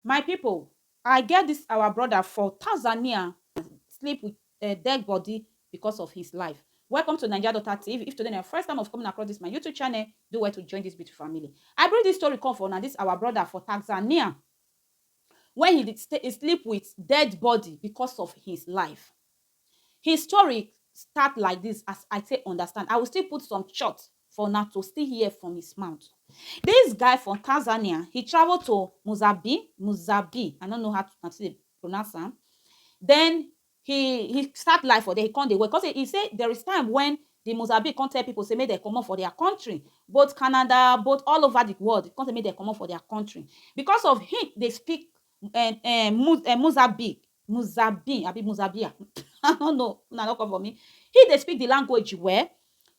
My people, I get this our brother for Tanzania sleep with uh, dead body because of his life. Welcome to Nigeria Daughter TV. If today is your first time of coming across this my YouTube channel, do well to join this beautiful family. I bring this story come for now. This our brother for Tanzania when he did stay, sleep with dead body because of his life. His story start like dis as I take understand, I will still put some short for una to still hear from his mouth. Dis guy from Tanzania, he travel to Muzabi, Muzabi, I no know how to take dey pronounce am, den he he start life for there, he come dey work, come sey, he sey there is time wen di Muzabi come tell pipu sey make dem komot for dia country, both Canada, both all over di world, come sey make dem komot for dia country, because of he dey speak um um Mu um Muzabi Muzabin abi Muzabia I no know una no come for me he dey speak the language well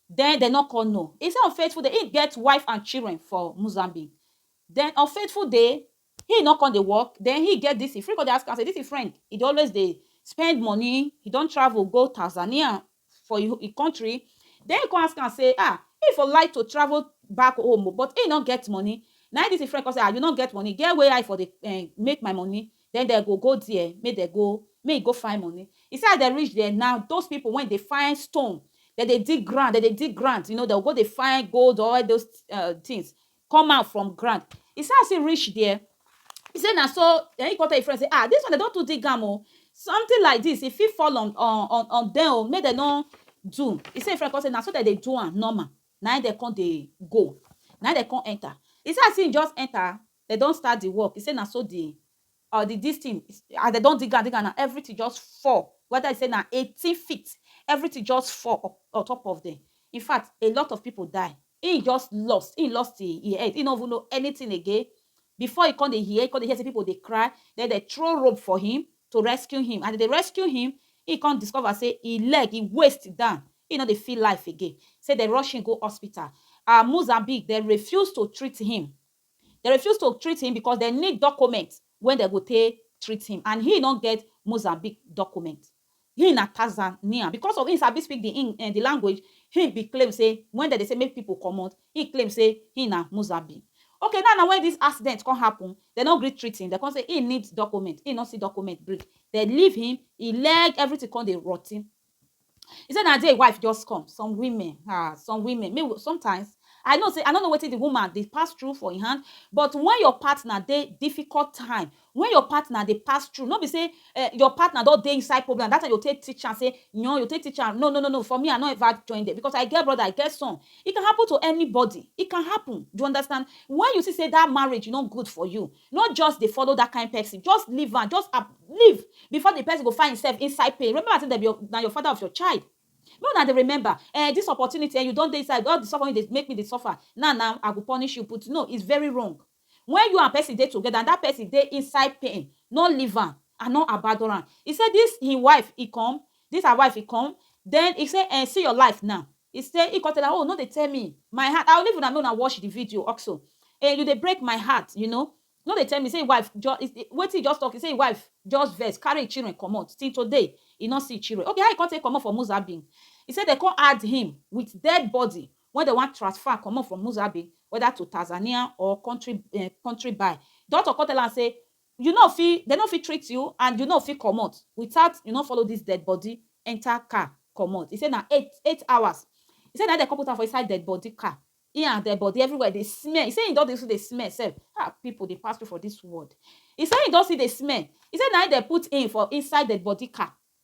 then dem no come know he say Unfaithful dey he get wife and children for Muzambique then Unfaithful dey he no come dey work then he get this he fit come dey ask am say this him friend he dey always dey spend money he don travel go Tanzania for e e country. Den e kon ask am sey, Ah, e for like to travel back home o, but e nor get money. Na e dis e friend kon sey, Ah, you nor get money? Get where I for dey um make my money, den den go go dier, mey den go, mey e go find money. E sey as den reach dier na, dose pipol wey dey find stone, den dey dig ground, den dey dig ground, you know, den go go dey find gold or all dos um tins, come out from ground e say as e reach there e say na so na him come tell him friend say ah this one dem don too dig am o something like this e fit fall on on on dem o make dem no do e say him friend come say na so dem dey do am normal na him dem come dey go na him dem come enter e say as him just enter dem don start the work e say na so the Or di dis tin as dem don dig am dig am na everytin just fall weda e say na eighteen feet everytin just fall on top of dem infact a lot of pipo die im just lost im lost im head im no even know anytin again before e come dey hear e come dey hear say pipo dey cry den dem throw rope for him to rescue him as dem dey rescue him im come discover say im leg im waist down im no dey feel life again say dem rush him go hospital and Mozambique dem refuse to treat him Dem refuse to treat him because dem need document wey dem go take treat him and he no get Mozambique document. Him na Tanzanian. Because of him sabi speak the Eng eh the language, him be claim say when dem dey say make people comot, he claim say him na Mozambique. Okay now na when this accident come happen, dem no gree treat him, dem come say him need document, him no see document bring. Dem leave him, him leg everything come dey rotten. E say na there e wife just come. Some women um some women make we sometimes I know sey I no know wetin the woman dey pass through for im hand but when your partner dey difficult time, when your partner dey pass through no be sey um your partner don dey inside problem na that time you go take teach am sey yoon you go take teach am no no no no for me I no ever join dem because I get brother I get son. E can happen to anybody, e can happen do you understand? When you see sey that marriage no good for you, No just dey follow that kind person, just leave am, just ab leave before the person go find himself inside pain. Remember say dem be your, na your father of your child. Make una dey remember um this opportunity um you don dey inside all the suffer wey you dey make me dey suffer now now I go punish you put no is very wrong. When you and person dey together and that person dey inside pain no leave am and no abandon am. He say this him wife he come, this her wife he come then he say um see your life now He say he con tell am oh no dey tell me my heart i will leave una make una watch the video oxo eh you dey break my heart you know no dey tell me say him wife jus is is wetin he just talk he say him wife just vex carry him children comot till today he no see him children okay how he con take comot for Muzabin he say dem con add him with dead body wey dem wan transfer comot from Muzabin whether to Tanzania or country eh country by doctor con tell am say You no fit, dem no fit treat you and you no fit comot without you no follow dis dead body enter car comot. E say na eight eight hours e say na im dem come put am for inside dead body car, im and dead body everywhere dey smell. E say im don dey still dey smell sef. Ha! Pipu dey pass through for dis world. E say im don still dey smell. E say na im dem put im for inside dead body car.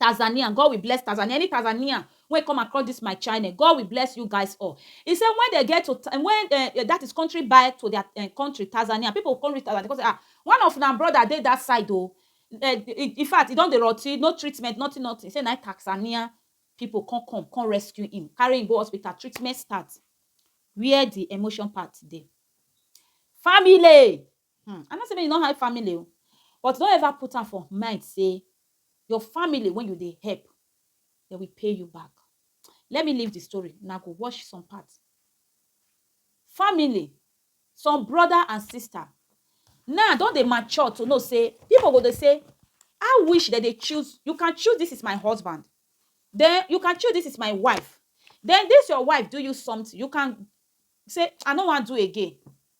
Tanzanian God will bless Tanzania any Tanzanian wey come across this my channel God will bless you guys all he say when they get to when uh, that is country by to their uh, country Tanzania people come reach Tanzania come say ah one of na brother dey that side oh uh, in fact e don dey rotty no treatment nothing nothing say na Tanzania people come come come rescue him carry him go hospital treatment start where the emotion part dey family Hmmm I no say make you no hype family o but no ever put am for mind say your family wey you dey help dem will pay you back let me leave the story una go watch some part family some brother and sister now don dey mature to know say people go dey say how which dem dey choose you can choose this is my husband then you can choose this is my wife then this your wife do you something you can say I no wan do again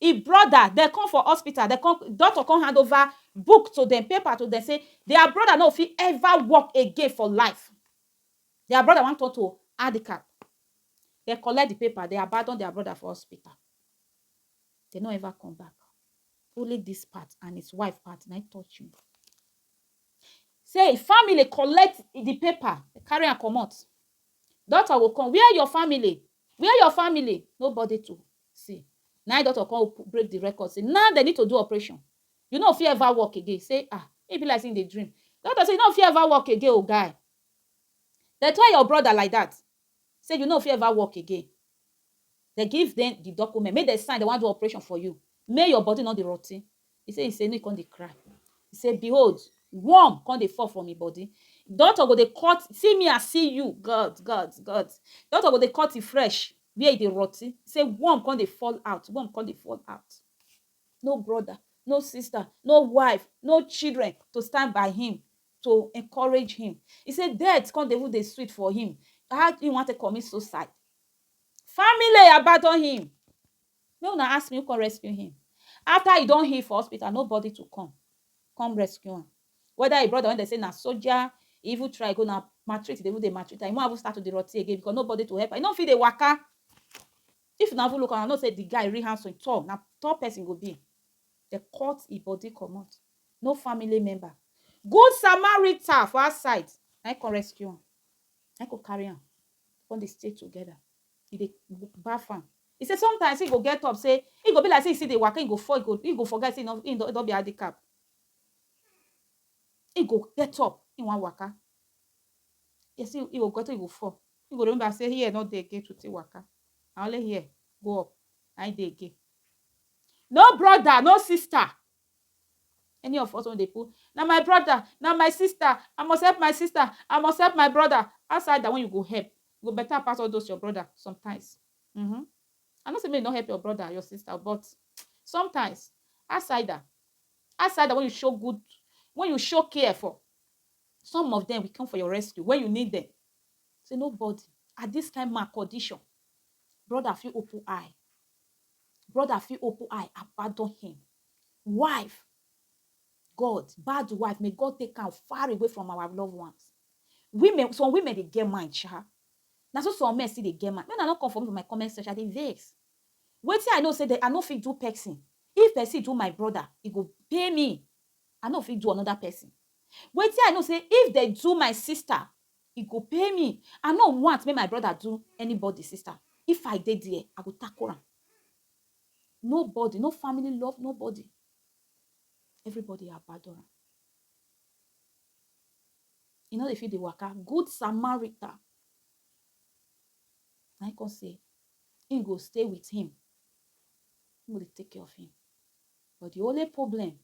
Im brother dem come for hospital, dem come, doctor come hand over book to dem, paper to dem say their brother no go fit ever walk again for life. Their brother wan turn to handicap. Dem collect the paper, dem abandon their brother for hospital. Dem no ever come back. Only this part and his wife part na im touch me. Say im family collect the paper, dem carry am comot. Doctor go come, where your family? Where your family? Nobody to See, na im doctor come open, break the record say now dem need to do operation. You no fit ever walk again. He say, Ah, e be like say you dey dream. Doctor say, You no fit ever walk again o, guy. Dem tell your brother like that say you no fit ever walk again. Dem give dem the document, make dem sign, dem wan do operation for you, make your body no dey rotty. He say, he say make e come dey cry. He say, behold, worm come dey fall from im body. Doctor go dey cut, see me I see you, God, God, God. Doctor go dey cut im flesh where e dey rotti. Say worm come dey fall out, worm come dey fall out. No brother, no sister, no wife, no children to stand by him, to encourage him. He say death come dey even dey sweet for him. How he wan take commit suicide? Family abandon him. Make una ask me who come rescue him. After he don heal for hospital, nobody to come come rescue am. Whether him brother when dem say na soldier, he even try go na maltreat dey even dey maltreat am. Him wan even start to dey rotty again because nobody to help am. He no fit dey waka. If una even look am, una know say the guy really handsome, he tall. Na tall person he go be. Dem cut him body comot. No family member. Good Samaritan for outside na him come rescue am. Na him come carry am come dey stay together. e dey baff am. E say sometimes e go get up say e go be like say e still dey waka, e go fall, e go e go forget say e no e don be handicap. E go get up, e wan waka, e say e go get up, e go fall, e go remember say here no dey again to take waka, na only here go up na im dey again. No brother, no sister Any of us wey dey put na my brother, na my sister, I must help my sister, I must help my brother, outside dat one you go help e go better pass all those your brother sometimes uhmm I no say make you no help your brother your sister but sometimes outsider, outsider wey you show good wey you show care for some of dem will come for your rescue when you need dem say nobody at this kind ma condition brother fit open eye brother fit open eye abandon him wife god bad wife may god take am far away from our loved ones women some women dey get mind sha na so some men still dey get mind when i no come for me for my comment section i dey vex wetin i know say that i no fit do person if person do my brother e go pay me i no fit do another person wetin i know say if they do my sister e go pay me I no want make my brother do anybody sister if I dey there I go tackle am nobody no family love nobody everybody abandon am e no dey fit dey waka good Samaritan na him come say him go stay with him him go dey take care of him but the only problem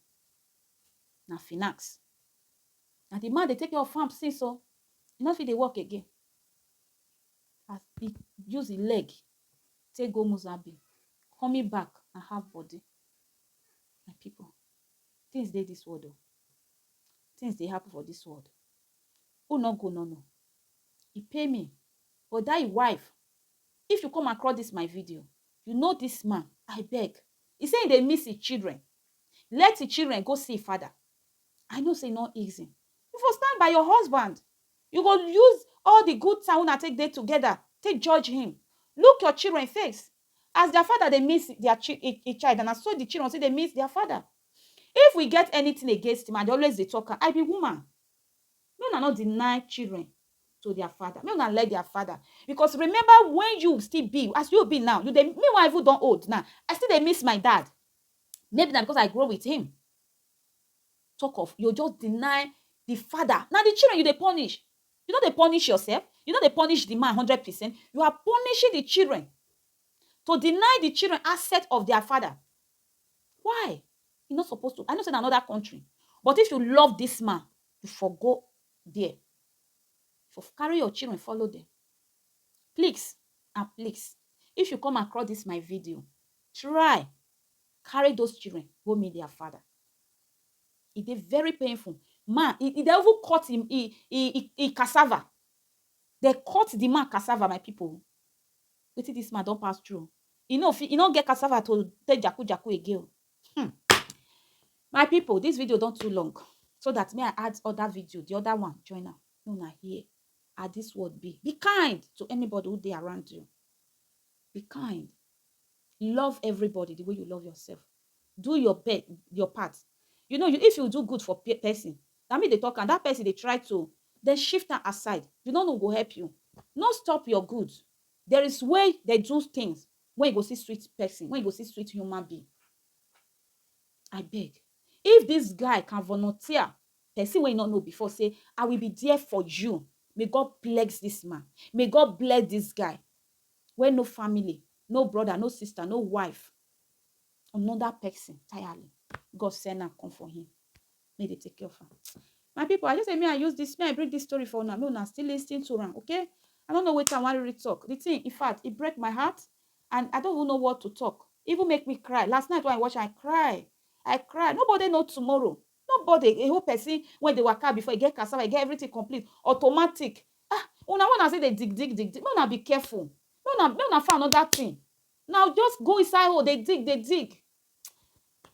na finance Na di man dey take care of farm since o, e no fit dey work again as e use im leg take go Muzambique, coming back na half body. My pipu, tins dey dis world o, tins dey happen for dis world, who no go no no. E pain me but dat im wife, if you come across dis my video, you know dis man, abeg, e sey e dey miss im children, let im children go see im fada, I know say e no easy. You for stand by your husband. You go use all the good time una take dey together take judge him. Look your children face. As their father dey miss their chi e, e child, and na so the children still dey miss their father. If we get anything against him, I dey always dey talk am, I be woman. Make una no deny children to their father. Make una let their father. Because remember when you still be, as you be now, you dey, me wey I even don old now, I still dey miss my dad. Maybe na because I grow with him. Talk of you just deny di father, na di children you dey punish, you no dey punish yourself, you no dey punish di man hundred percent, you are punishing di children to deny di children asset of dia father. Why? E no suppose to, I know sey na another country but if you love dis man, you for go dia, for carry your children follow dem. Please and please, if you come across dis my video, try. carry those children go meet their father. E dey very painful. Man, e, e dey even cut him e, e, e, e cassava. They cut the man cassava, my people. Wetin this man don pass through. E no fit, e no get cassava to take jaku jaku again. o. Hmm. My people, this video don too long. So that me I add other video, the other one, join am. Make una hear how this world be. Be kind to anybody who dey around you. Be kind. Love everybody the way you love yourself. Do your pe your part. You know, you if you do good for pe person, na me dey talk am, that person dey try to then shift am aside. You no know go help you. No stop your good. There is way they do things when you go see sweet person, when you go see sweet human being. I beg. If this guy can volunteer person wey you no know before say, I will be there for you. May God bless this man. May God bless this guy. wey no family, no broda, no sista, no wife, anoda pesin entirely, God send am come for him make dey take care of am. My pipu, I just say make I use dis, make I bring dis story for una, make una still lis ten to am, okay. I no know wetin I wan really talk, di tin, in fact, e break my heart and I no even know what to talk, e even make me cry, last night wey I watch am, I cry, I cry, nobody know tomorrow, No body dey hold person wey dey waka before e get cassava e get everything complete automatic ah una wey una say dey dig dig dig dig make una be careful make una make una find another thing na just go inside hole dey dig dey dig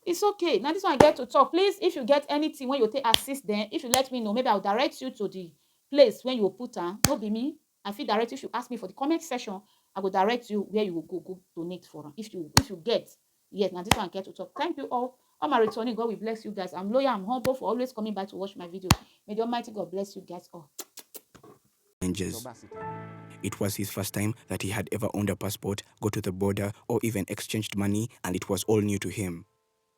it's okay na this one i get to talk please if you get anything wey you go take assist dem if you let me know maybe i will direct you to the place wey you go put am no be me I fit direct you if you ask me for the comment section I go direct you where you go go go donate for am if you if you get yes na this one get to talk thank you all all my returning God will bless you guys I'm loyal I'm humble for always coming by to watch my video may the Almighty God bless you guys all. Rangers. It was his first time that he had ever owned a passport, go to the border, or even exchanged money, and it was all new to him.